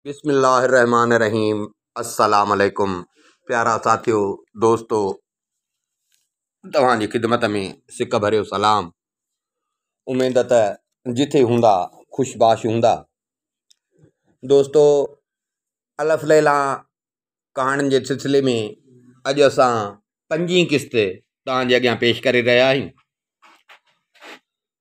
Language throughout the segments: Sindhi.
بسم الله الرحمٰن الرحيم السلام عليڪم پيارا ساٿيو دوستو توهان جي خدمت ۾ سڪ ڀريو سلام اميد ته جٿي هوندا خوش باش هوندا دوستو الف ليلا ڪهاڻين جي سلسلي ۾ اڄ اسان پنجين قسط توهان جي اڳيان پيش ڪري رهيا آهيون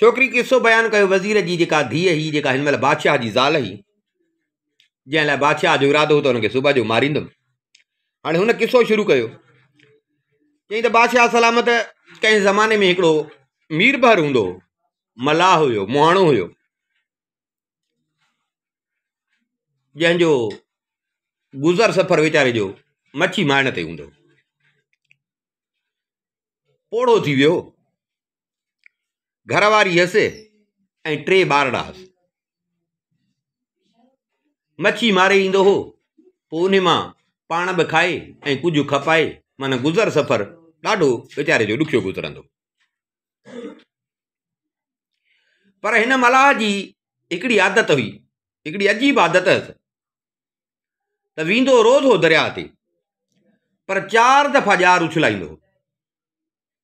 ڇوڪري قصو بيان ڪيو وزير جي جيڪا ڌيء هئي جيڪا هن مهل بادشاهه جي زال هئي جنهن لاء بادشاهه جو ارادو هو ته هنکي صبح جو ماريندم هاڻي هن قصو شروع ڪيو چيائين ته بادشاهه سلامت ڪنهن زماني ۾ هڪڙو مير بهر هوندو هو ملاح هيو مهاڻو هيو جنهن جو گذر سفر ويچاري جو مڇي مائڻ تي هوندو پوڙهو ٿي ويو گهر واري هيس ۽ ٽي ٻارڙا هئس مڇي ماري ايندو هو پوء ان مان پاڻ به کائي ۽ ڪجهه کپائي معنيٰ گذر سفر ڏاڍو ويچاري جو ڏکيو گذرندو پر هن ملاح جي هڪڙي عادت هئي هڪڙي عجيب عادت هيس ته ويندو روز هو درياء تي پر چار دفعا ڄار اڇلائيندو هو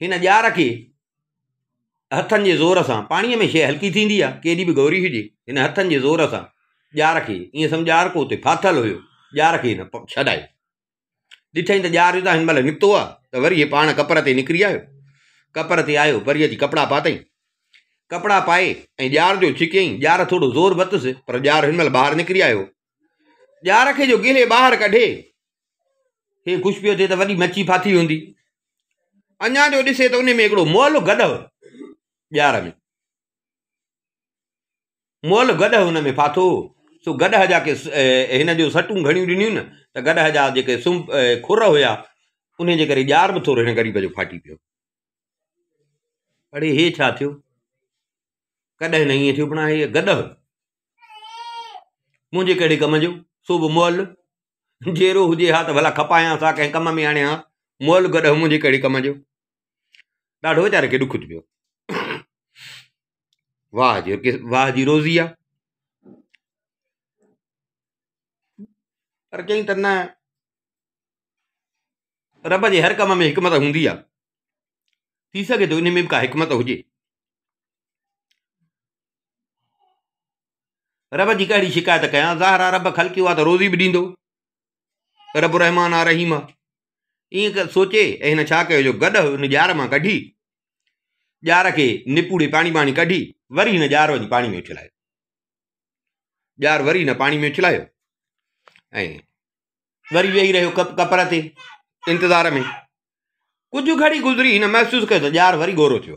هن ڄار کي هٿن جي زور سان پاڻيء ۾ شيء هلڪي ٿيندي آهي ڪيڏي به گوري هجي هن هٿن جي زور سان ڄار کي ائين سمجهه ڄار ڪو اتي ڦاٿل هيو ڄار کي هن ڇڏائي ڏٺائين ته ڄار هتان هن مهل نڪتو آهي ته وري هي پاڻ ڪپر تي نڪري آيو ڪپر تي آيو وري اچي ڪپڙا پاتئي ڪپڙا پائي ۽ ڄار جو ڇڪيائين ڄار ٿورو زور وتس پر ڄار هن مهل ٻاهر نڪري آيو ڄار کي جو گهري ٻاهر ڪڍي، هي خوش پيو ٿئي ته وڏي مڇي ڦاٿي هوندي. اڃا جو ڏسي ته ان ۾ هڪڙو مئل گڏهه ڄار ۾، مئل گڏهه ان ۾ ڦاٿو هو، سو گڏهه جا ڪي هن جو سٽون گهڻيون ڏنيون نه ته گڏهه جا جيڪي سنب کر هيا، انهي جي ڪري ڄار به ٿورو هن غريب جو ڦاٽي پيو. اڙي هي ڇا ٿيو؟ ڪڏهن نه ائين ٿيو، پڻ آهي هيء گڏهه. منهنجي ڪهڙي ڪم جو، سو به مئل! جيرو هجي ها ته ڀلا کپايانس ها، ڪنهن ڪم ۾ آڻي هانس، مئل گڏهه منهنجي ڪهڙي ڪم جو! ڏاڍو ويچاري کي ڏک ٿي پيو. واهه جي واهه جي روزي آ پر چئين ته نه رب جي هر ڪم ۾ حڪمت هوندي آ ٿي سگهي ٿو ان ۾ به ڪا حڪمت هجي رب جي ڪهڙي شڪايت ڪيان ظاهر آ رب خلقي هو آ ته روزي به ڏيندو رب رحمان آ رحيم آ ائين سوچي ۽ هن ڇا ڪيو جو گڏ هن ڄار مان ڪڍي ڄار کي نپوڙي پاڻي پاڻي ڪڍي وري هن ڄار وڃي پاڻي ۾ اڇلايو ڄار وري هن پاڻي ۾ اڇلايو ۽ وري ويهي رهيو ڪپر تي انتظار ۾ ڪجهه گهڙي گذري هن محسوس ڪيو ته ڄار وري ڳورو ٿيو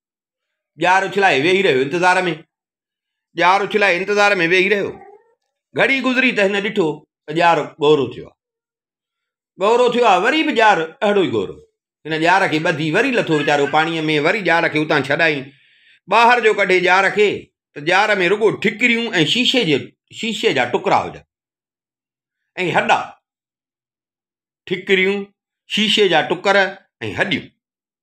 ڄار اڇلائي ويهي رهيو انتظار ۾، ڄار اڇلائي انتظار ۾ ويهي رهيو، گهڙي گذري ته هن ڏٺو ته ڄار ڳورو ٿيو آهي، ڳورو ٿيو آهي وري به ڄار اهڙو ئي ڳورو، هن ڄار کي ٻڌي وري لٿو ويچارو پاڻيء ۾ وري ڄار کي اتان ڇڏائين ٻاهر جو ڪڍي ڄار کي ته ڄار ۾ رڳو ٺڪريون ۽ شيشي جي شيشي جا ٽڪرا هجن ۽ هڏا ٺڪريون شيشي جا ٽڪر ۽ هڏيون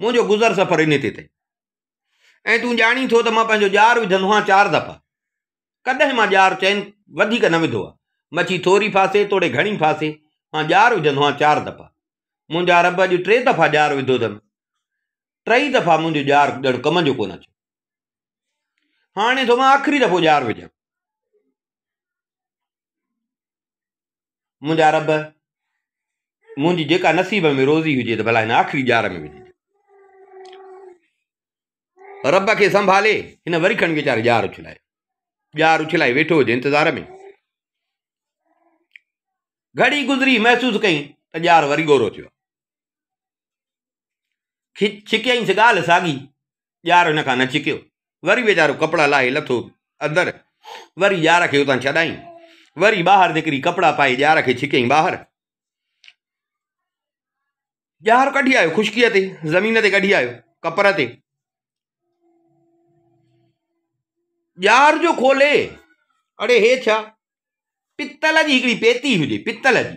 منهنجو گذر سفر انهي تي اٿئي. ۽ تون ڄاڻين ٿو ته مان پنهنجو ڄار وڌندو آهيان چار دفعا. ڪڏهن مان ڄار چئن وڌيڪ نه وڌو آهي. مڇي ٿوري ڦاسي توڙي گهڻي ڦاسي، مان ڄار وجهندو آهيان چار دفعا. منهنجا رب اڄ ٽي دفعا ڄار وڌو اٿم. ٽئي دفعا منهنجو ڄار ڄڻ ڪم جو ڪونه اچيو. هاڻي ٿو مان آخري دفعو ڄار وجهان. منهنجا رب منهنجي جيڪا نصيب ۾ روزي هجي ته ڀلا هن آخري ڄار ۾ وجهي رب کي سنڀالي هن وري کن ويچاري ڄار اڇلائي ڄار اڇلائي ويٺو هجي انتظار ۾ گهڙي گذري محسوس ڪئي ته ڄار وري ڳورو ٿيو ڇڪيائينس ڳالهه ساڳي، ڄار هن کان نه ڇڪيو. وري ويچارو ڪپڙا لاهي لٿو اندر، وري ڄار کي اتان ڇڏايائين. وري ٻاهر نڪري ڪپڙا پائي ڄار کي ڇڪيائين ٻاهر. ڄار ڪڍي آيو خشڪيء تي، زمين تي ڪڍي آيو، ڪپر تي. ڄار جو کولي، اڙي هي ڇا؟ پتل جي هڪڙي پيتي هجي، پتل جي.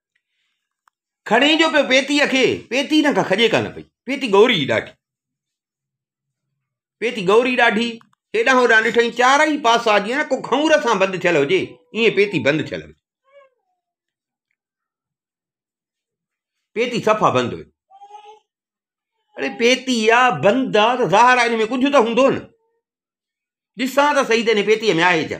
کڻي جو پيو پيتي کي پيتي هن کان کڄي ڪانه پئي پيتي ڳوري ڏاڍي پيتي ڳوري ڏاڍي هيڏانهن هوڏانهن ڏٺائين چارئي پاسا جيئن نه ڪو کنور سان بند ٿيل هجي ائين پيتي بند ٿيل هئي پيتي صفا بند هئي اڙي پيتي آ بند آ ته ظاهر آ ان ۾ ڪجهه ته هوندو نه ڏسان ته صحيح ته هن پيتيء ۾ آهي ڇا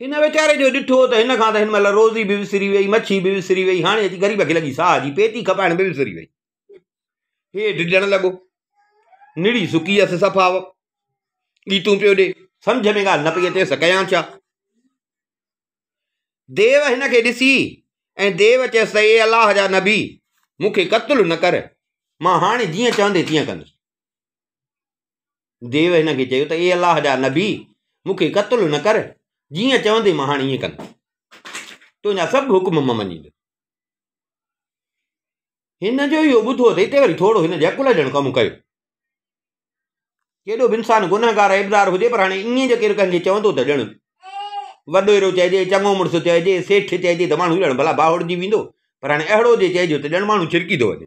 هن ويچاري جو ڏٺو ته هن کان ته هن مهل روزي به وسري وئي مڇي به وسري وئي هاڻي اچي غريب کي لڳي ساهه جي پيتي کپائڻ به وسري وئي هي ڊڄڻ لڳو نڙي سڪي هيس صفا ڳيتون پيو ڏي سمجھ ۾ ڳالهه نه پئي اچيس ڪيان ڇا ديو هن کي ڏسي ۽ ديو چيس ته اي الله جا نبي مون کي قتل نه ڪر مان هاڻي جيئن چوندي تيئن ڪندس ديو هن کي چيو ته اي الله جا نبي مون کي قتل نه ڪر جيئن چوندين مان هاڻي ائين ڪندس تنهنجا سڀ حڪم مان مڃيندس هن جو اهو ٻڌو اٿئي ته وري ٿورو هن جي عقل ڄڻ ڪم ڪيو ڪيڏو به انسان گنهگار ابزار هجي پر هاڻي ائين جو ڪير ڪنهن کي چوندو ته ڄڻ وڏو اهڙو چئجي چڱو مڙس چئجي سيٺ چئجي ته ماڻهو ڄڻ ڀلا باهوڙجي ويندو پر هاڻي اهڙو جي چئجو ته ڄڻ ماڻهو ڇرڪي ٿو وڃي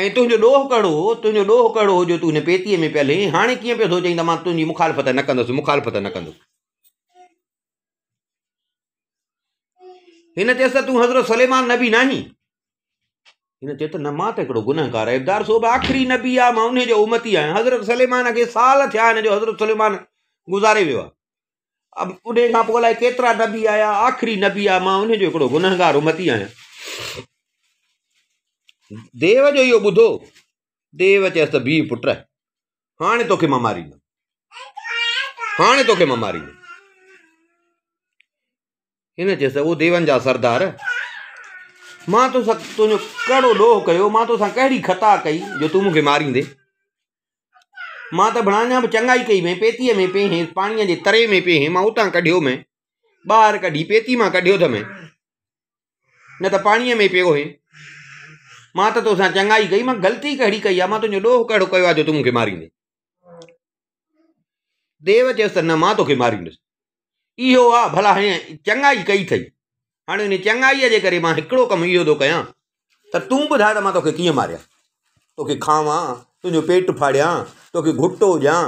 ۽ تنهنجو ڏوهه ڪهڙو هو تنهنجو ڏوهه ڪهڙو هو جو تون هن پيتيء ۾ پيل هئين هاڻي ڪيئن پيو ٿو چئين ته مان تنهنجي مخالفت نه ڪندس مخالفت نه ڪندس هن چيس ته تون حضرت سليمان نبي نه آهين هن چيو ته نه مان ته هڪڙو گنهگار عبدار صوب آخري نبي آ مان ان جو امتي آهيان حضرت سليمان کي سال ٿيا آهن جو حضرت سليمان گذاري ويو آ اب انهي کان پوء الائي ڪيترا نبي آيا آخري نبي آ مان انهي جو هڪڙو گنهگار امتي آهيان ديو جو اهو ٻڌو ديو چيس ته بيهه پٽ هاڻي توکي مان ماريندم هاڻي توکي مان ماريندم هن چيس ته او ديون جا سردار! مان تو سان تنهنجو ڪهڙو ڏوهه ڪيو، مان تو سان ڪهڙي خطا ڪئي جو تون مون کي ماريندين؟ مان ته ڀڻا اڃا به چڱائي ڪئي مين، پيتيء ۾ پيهين، پاڻيء جي تري ۾ پيهين، مان اتان ڪڍيو مين، ٻاهر ڪڍي، پيتي مان ڪڍيو ٿو مين، نه ته پاڻيء ۾ پيو هئين. مان ته تو سان چڱائي ڪئي، مان غلطي ڪهڙي ڪئي آهي، مان تنهنجو ڏوهه ڪهڙو ڪيو آهي جو تون مون کي ماريندين؟ ديو چيس ته نه مان توکي ماريندس اهو آ ڀلا هيئن چڱائي ڪئي اٿئي هاڻي ان چڱائيء جي ڪري مان هڪڙو ڪم اهو ٿو ڪيان ته تون ٻڌاء ته مان توکي ڪيئن ماريان توکي کاوان تنهنجو پيٽ ڦاڙيان توکي گهٽو ڏيان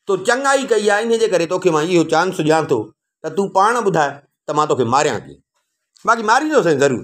تو چڱائي ڪئي آ ان جي ڪري توکي مان اهو چانس ڏيان ٿو ته تون پاڻ ٻڌاء ته مان توکي ماريان ڪيئن باقي ماريندو سائين ضرور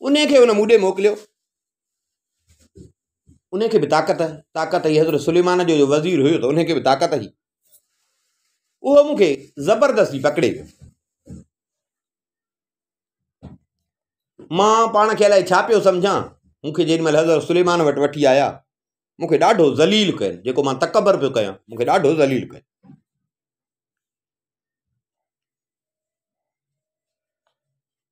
ان کي ان مون ڏي موڪليو ان کي بھ طاقت طاقت ھئي حضرت سليمان جو وزير ھيو تھ ان کي بھ طاقت ھئي اھو مون کي زبردستي پڪڙي ويو مان پاڻ کي الائي ڇا پيو سمجھان مون کي جيڏي مھل حضرت سليمان وٽ وٺي آيا مون کي ڏاڍو ذليل ڪيو جيڪو مان تڪبر پيو ڪيان مون کي ڏاڍو ذليل ڪيو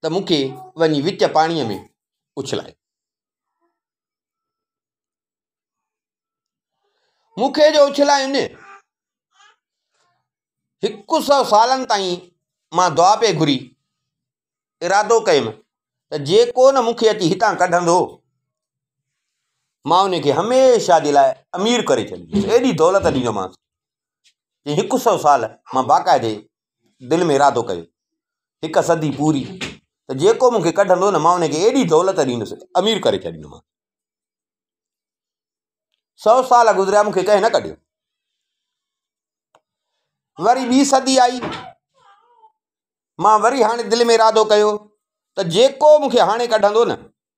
ته مون کي وڃي وچ پاڻيء ۾ اڇلايو. مون کي جو اڇلاين، هڪ سئو سالن تائين مان دعا پئي گهري، ارادو ڪيم ته جيڪو نه مون کي اچي هتان ڪڍندو، مان ان کي هميشه جي لاء امير ڪري ڇڏينديس، ايڏي دولت ڏيندومانس، هڪ سئو سال مان باقاعدي دل ۾ ارادو ڪيو هڪ صدي پوري ته جيڪو مونکي ڪڍندو نه مان انکي ايڏي دولت ڏيندس امير ڪري ڇڏيندومانس سو سال گذريا مونکي ڪنهن نه ڪڍيو وري ٻي صدي آئي مان وري هاڻي دل ۾ ارادو ڪيو ته جيڪو مونکي هاڻي ڪڍندو نه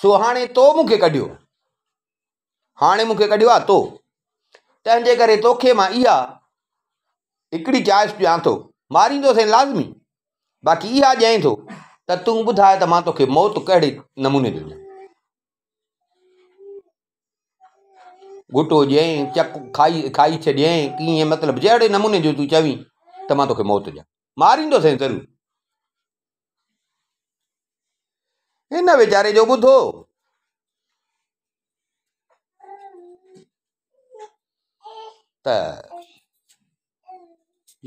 سو هاڻي تو مون کي ڪڍيو هاڻي مون کي ڪڍيو آ تو تنهن جي ڪري توکي مان اها هڪڙي چائس ڏيان ٿو ماريندو سين لازمي باقي اها ڄائين ٿو ته تون ٻڌاء ته مان توکي موت ڪهڙي نموني جو ڏيان گھٽو ڏيئين چڪ کائي کائي ڇڏيئين ڪيئن مطلب جهڙي نموني جو تون چوين ته مان توکي موت ڏيان ماريندو سين ضرور هن ويچاري جو ٻڌو ته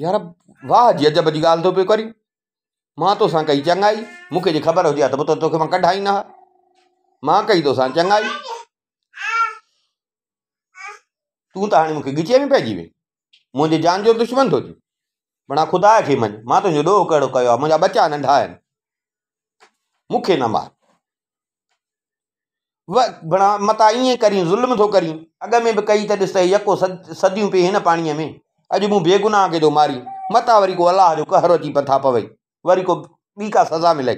يار واهه جي عجب جي ڳالهه ٿو پيو ڪرين مان تونسان ڪئي چڱائي مونکي جي خبر هجي هان ته تونکي مان ڪڍائين هان مان ڪئي تونسان چڱائي تون ته هاڻي مون کي ڳچيء ۾ پئجي وئين. منهنجي جان جو دشمن ٿو ٿين. بنا خدا کي مڃ، مان تنهنجو ڏوهه ڪهڙو ڪيو آهي، منهنجا ٻچا ننڍا آهن. مون کي نه مار. بنا متان ائين ڪرين، ظلم ٿو ڪرين. اڳ ۾ به ڪئي ته ڏس ته يڪو صديون پئي هن پاڻيء ۾. اڄ مون بيگناهه کي ٿو مارين. متان وري ڪو الله جو قهر اچي مٿان پوي. وري ڪو ٻي ڪا سزا ملئي.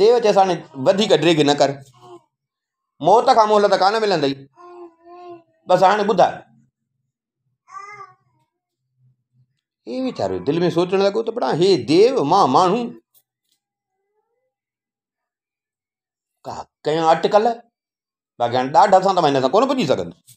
ديو چيس هاڻي وڌيڪ ڊريگ نه ڪر موت کان مهلت ڪانه ملندئي بس هاڻي ٻڌاء هي ويچارو دل ۾ سوچڻ لڳو ته بڙا هي ديو مان ماڻهو ڪا ڪيان اٽڪل باقي هاڻي ڏاڍ سان ته مان هن سان ڪونه پڄي سگهندس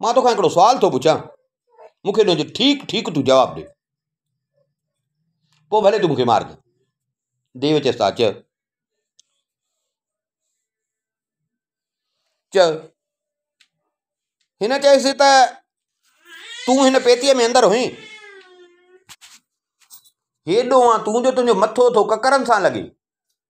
مان توکان هڪڙو سوال ٿو پڇان مون کي ان جو ٺيڪ ٺيڪ تون جواب ڏي پوء ڀلي تون مون کي مار ڪر ديو چيس ٿا اچ چ هن چيس ته تون هن پيتيء ۾ اندر هئين هيڏو آن تون جو تنهنجو مٿو ٿو ڪڪرن سان لڳي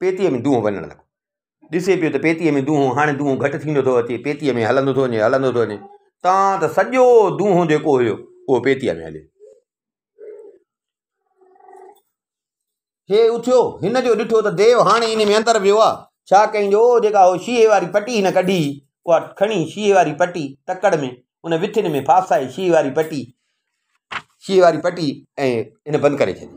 پيتيء ۾ دونهون وڃڻ لڳو. ڏسي پيو ته پيتيء ۾ دونهون هاڻي دونهون گهٽ ٿيندو ٿو اچي، پيتيء ۾ هلندو ٿو وڃي، هلندو ٿو وڃي، تان ته سڄو دونهون جيڪو هيو، اهو پيتيء ۾ هليو. هي اٿيو، هن جو ڏٺو ته ديو هاڻي ان ۾ اندر ويو آهي. ڇا ڪيائين جو اهو جيڪا هو شيشي واري پٽي هن ڪڍي هئي، اها کڻي شيشي واري پٽي تڪڙ ۾ ان وٿين ۾ ڦاسائي شيشي واري پٽي، شيشي واري پٽي ۽ هن بند ڪري ڇڏي.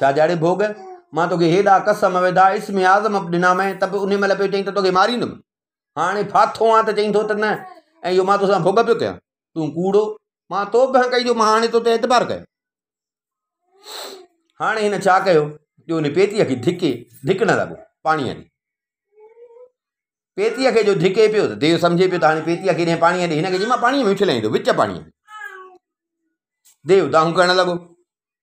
ڇا جاڙي ڀوڳ مان توکي هيڏا قسم وڌا اسم اعظم اپ ڏنا مين ته به ان مهل پيو چئين ته توکي ماريندم هاڻي ڦاٿو آن ته چئين ٿو ته نه ۽ اهو مان توسان ڀوڳ پيو ڪيان تون ڪوڙو مان تو به ڪئي جو مان هاڻي تو تي اعتبار ڪيو هاڻي هن ڇا ڪيو جو ان پيتيء کي ڌڪي ڌڪڻ لڳو پاڻيء ڏي پيتيء کي جو ڌڪي پيو ته ديو سمجھي پيو ته هاڻي پيتيء کي ڏينهن پاڻيء ڏي هن کي چي مان پاڻيء ۾ اڇلائيندو وچ پاڻيء ۾ ديو دانهون ڪرڻ لڳو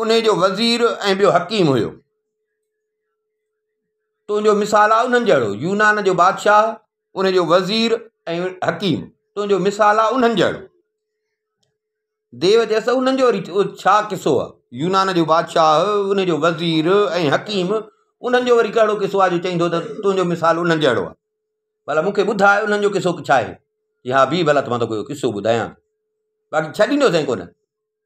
انهي جو وزير ۽ ٻيو حڪيم هيو. تنهنجو مثال آ انهن جهڙو يونان جو بادشاهه انهي جو وزير ۽ حڪيم تنهنجو مثال آ انهن جهڙو ديو چيس انهن جو ڇا قصو آ يونان جو بادشاهه انهي جو وزير ۽ حڪيم انهن جو وري ڪهڙو قصو آ جو چئيندو ته تنهنجو مثال انهن جهڙو آ ڀلا مون کي ٻڌاء انهن جو قصو ڇا آهي چي ها بيهه ڀلا مان توکي اهو قصو ٻڌايان ٿو باقي ڇڏيندوسين ڪونه